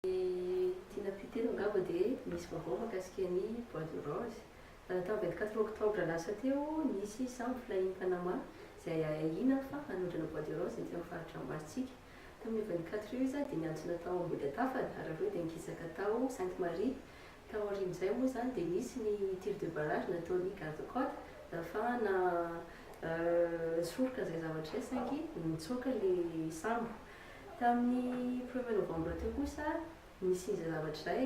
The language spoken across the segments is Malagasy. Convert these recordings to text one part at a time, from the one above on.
Ry Tina Puteno angamba dia misy vaovao mahakasika an'i Bois de Rose. Raha tamin'ny vingt quatre octobre lasa teo, nisy sambo flahin'i Panama izay ahiahiana fa hanondrana Bois de Rose ety amin'ny faritra ambaratsika. Tamin'io vingt quatre io izy dia niantsona tao Ambohidatafana ary avy eo dia nikisaka tao Sainte Marie. Tao aorian'izay moa izany dia nisy ny tir de barrage nataon'ny garde cote nahafahana nisoroka izay zavatra izay saingy nitsoaka ilay sambo. Tamin'ny premier novembre teo kosa, nisy izay zavatra izay,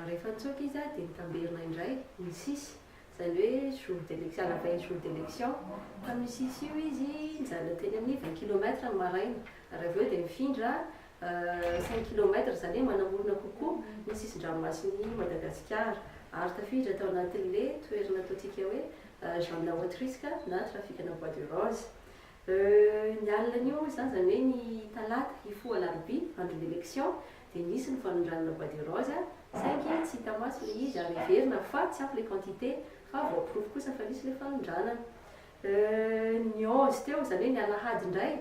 rehefa nitsoaka izy dia nitamberina indray ny sis, izany hoe jour d'election, à la veille jour d'election, tamin'io sis io izy nijanona teny amin'ny vingt kilomètre ny maraina, ary avy eo dia nifindra cinq kilomètre, izany hoe manamorona kokoa ny sisin-dranomasin'i Madagasikara, ary tafiditra tao anatin'le toerana ataontsika hoe zone à haut risque na trafikana bois de rose. Euh ny alinan'io hoy izany izany hoe ny talata hifoha alarobia andron'ny election dia nisy ny fanondranana bois de rose saingy tsy hita maso ilay izy ary heverina fa tsy ampy ilay quantité fa voaporofo kosa fa nisy ilay fanondranana Euh ny onze teo izany hoe ny alahady indray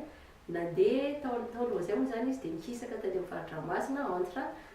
nandeha tao tao Lauzin moa izany izy dia nihisaka taty amin'ny faritra Masina entre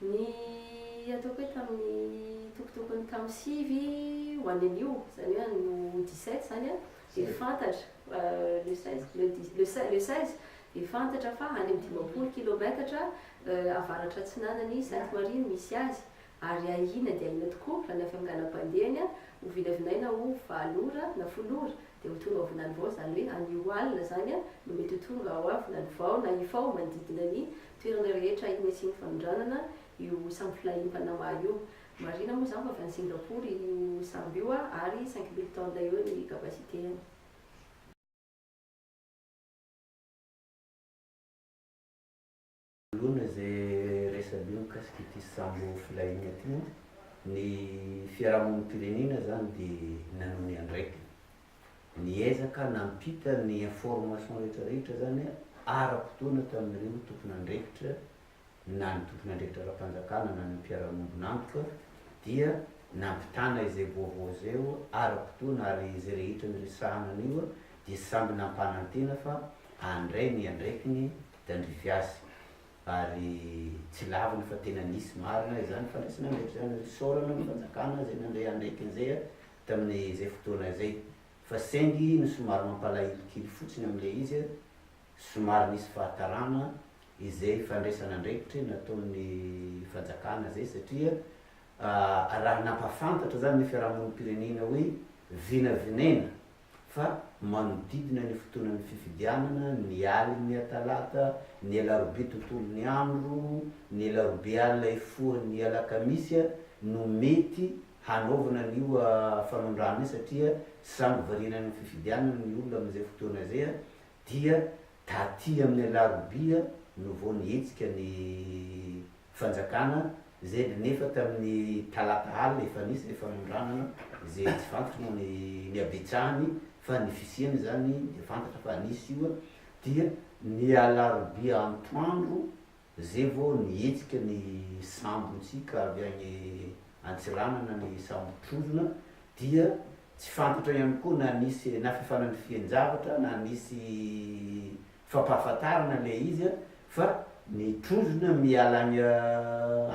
Ny ataoko hoe tamin'ny tokotokony tamin'ny sivy ho any anio, izany hoe any ho dix sept izany an, dia fantatra fa le seize, le dix, le seize, le seize, dia fantatra fa any amin'ny dimampolo kilaometatra avaratratsinanan' i Sainte Marie no misy azy, ary ahiana dia ahiana tokoa raha ny avy amin'ny lalam-pandehany an, ho vinavinaina ho valo ora na folo ora dia ho tonga ao Vinanivao, izany hoe anio alina izany an no mety ho tonga ao Vinanivao na Ifao manodidina ny toerana rehetra eny asian'ny fanondranana io sambo flahin'ny Panama io. Marihina moa izany fa avy any Singapour io sambo io ary cinq mille tonnes eo ny capacité-ny. Alohan'ny izay resabe mikasika ity sambo flahin'ny aty, ny fiarahamonim-pirenena izany dia nanome andraikiny Niezaka nampita ny information rehetra rehetra zany ara-potoana tamin'ireo tompon'andraikitra na ny tompon'andraikitra ara-panjakana na ny mpiara-miombon'antoka dia nampitana izay vaovao izay ara-potoana ary izay rehetra niresahana anio dia samby nampanantena fa handray ny andraikiny tandrify azy ary tsy lavina fa tena nisy marina izany fandraisana andraikitra izany, isaorana ny fanjakana izay nandray andraikiny izay tamin'izay fotoana izay, fa saingy ny somary mampalahelo kely fotsiny amin'ilay izy, somary nisy fahatarana izay fandraisana andraikitra nataon'ny fanjakana izay satria raha nampahafantatra izany ny fiarahamonim-pirenena hoe vinavinaina fa manodidina ny fotoanan'ny fifidianana ny alin'ny atalata, ny alarobia tontolon'ny andro, ny alarobia alina hifoha ny alakamisy no mety hanaovana an'io fanondrana io satria sambo variana any amin'ny fifidianana ny olona amin'izay fotoana izay dia taty amin'ny alarobia no vao nihetsika ny fanjakana izay dia nefa tamin'ny talata alina efa nisy ilay fanondranana izay tsy fantatra moa ny ny habetsahany fa ny fisiany izany dia fantatra fa nisy io dia ny alarobia antoandro Ze vo nihetsika ny sambo ntsika avy agny Antsiranana ny sambo trozona dia tsy fantatra ihany koa na nisy na fifananifian-javatra na nisy fampahafantarana le izy a fa ny trozona miala agny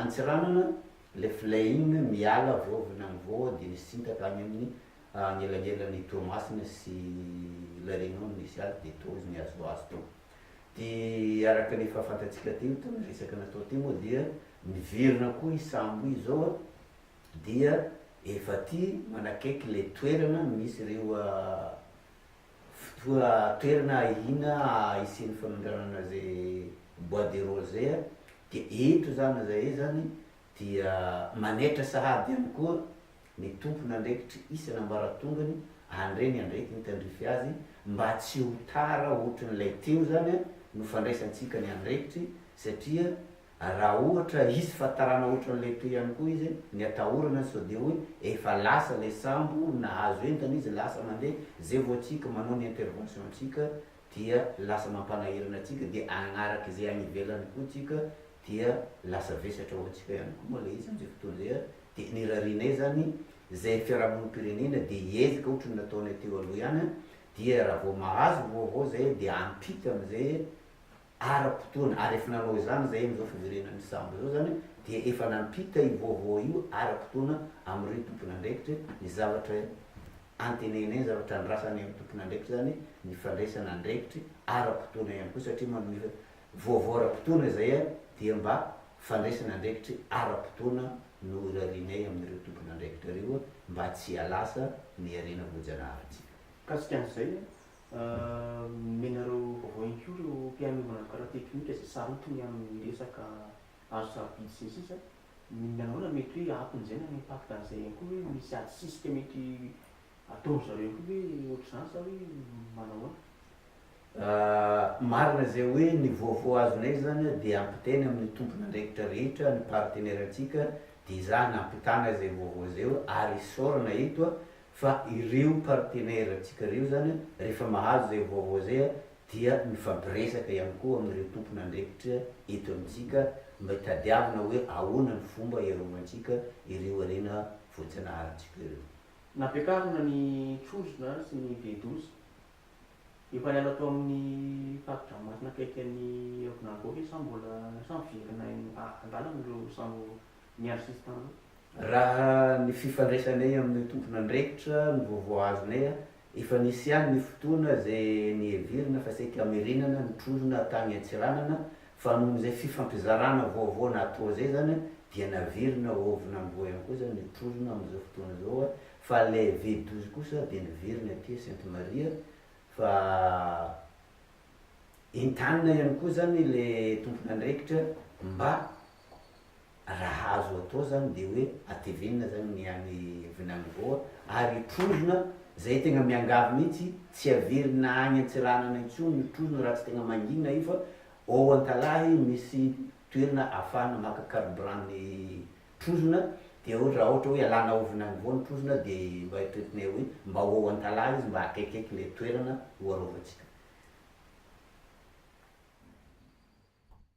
Antsiranana le flying miala avy ao Vinangovo de nisintaka agny aminy agnelagnelany Toamasina sy La Réunion nisy azy de tô izy nihazohazo tô. Dia araka ny efa fantatsika teo tamin'ny resaka natao teo moa dia miverina koa i sambo i zao an, dia efa aty manakaiky ilay toerana misy ireo fotoa toerana ahiana hisian'ny fanondranana izay bois de rose zay an, dia eto zany zahay zany dia manaitra sahady ihany koa Ny tompon'andraikitry isana ambaratongany andre ny andretiny tandrify azy mba tsy ho tara ohatry ny ilay teo zany a no fandraisantsika ny andrekitry satria raha ohatra hisy fatarana ohatry an'ilay teo ihany koa izy ny atahorana sao dia hoe efa lasa ilay sambo nahazo entana izy lasa mandeha zay vao tsika manao ny intervention tsika dia lasa mampanahirana antsika dia agnaraka izay any ivelany koa tsika dia lasa vesatra ho antsika ihany koa moa le izy amizay fotoana zay a de ny rarianay zany zay fiarahamonim pirenena de hiezaka otriny nataonay teo aloha ihany a dia raha vao mahazo vaovao zay dia ampita amizay ara-potoana ary efa nanao izany izay amin'izao fiverenan'ny mpisambo izao izany dia efa nampita io vaovao io ara-potoana amin'ireo tompon'andraikitra ny zavatra antenehinay, ny zavatra andrasanay amin'ny tompon'andraikitra izany ny fandraisana andraikitry ara-potoana ihany koa satria manome vaovao ara-potoana izay dia mba fandraisana andraikitry ara-potoana no irarianay amin'ireo tompon'andraikitra ireo mba tsy hialasa ny harena voajanaharintsika. Mikasika an'izay, Nomenareo vaovao ihany koa ireo mpihaino manaraka ara-teknika izay sarotiny amin'ny resaka azo sarobidy sy ny sisa Ny mihaona mety hoe aton'izay na ny impact an'izay ihany koa hoe misy ady sisika mety ataon-dry zareo ihany koa ve ohatr'izany sa hoe manahoana? Marina izay hoe ny vaovao azonay izany dia ampitaina amin'ny tompon'andraikitra rehetra ny partenaire-ntsika dia izaho nampitana izay vaovao izay hoe ary isaorana eto Fa ireo partenaires ntsika ireo izany rehefa mahazo izay vaovao izay dia mifampiresaka ihany koa amin'ireo tompon'andraikitra eto amintsika mba hitadiavina hoe ahoana ny fomba hiarovantsika ireo harena voajanaharintsika ireo. Nampiakarina ny trozona sy ny V-douze. Efa niala tao amin'ny Parc Dranomasina akaiky an'i Aovinangoaka sa mbola sa miverina any an-dalana ireo sambo ny assistant. Raha ny fifandraisanay amin'io tompon'andraikitra no vaovao azonay, efa nisy ihany ny fotoana izay niheverina fa saika mirinana ny trozona tany Antsiranana fa noho izay fifampizarana vaovao natao izay izany dia naverina ao Aovinamboa ihany koa izany ny trozona amin'izao fotoana izao fa ilay V douze kosa dia niverina aty Sainte Maria fa entanina ihany koa izany ilay tompon'andraikitra mba raha azo atao zany de hoe atevenina zany ny any vinany voa ary trozona zay tegna miangavy mihitsy tsy averina any antsiranana intsony ny trozona raha tsy tegna mangina io fa ao ankalahy misy toerana afahana maka carburant ny trozona de ao raha ohatra hoe alana ao vinany voa ny trozona de mba eritreretinay hoe mba ho ao ankalahy izy mba akaikikaiky le toerana ho arovantsika.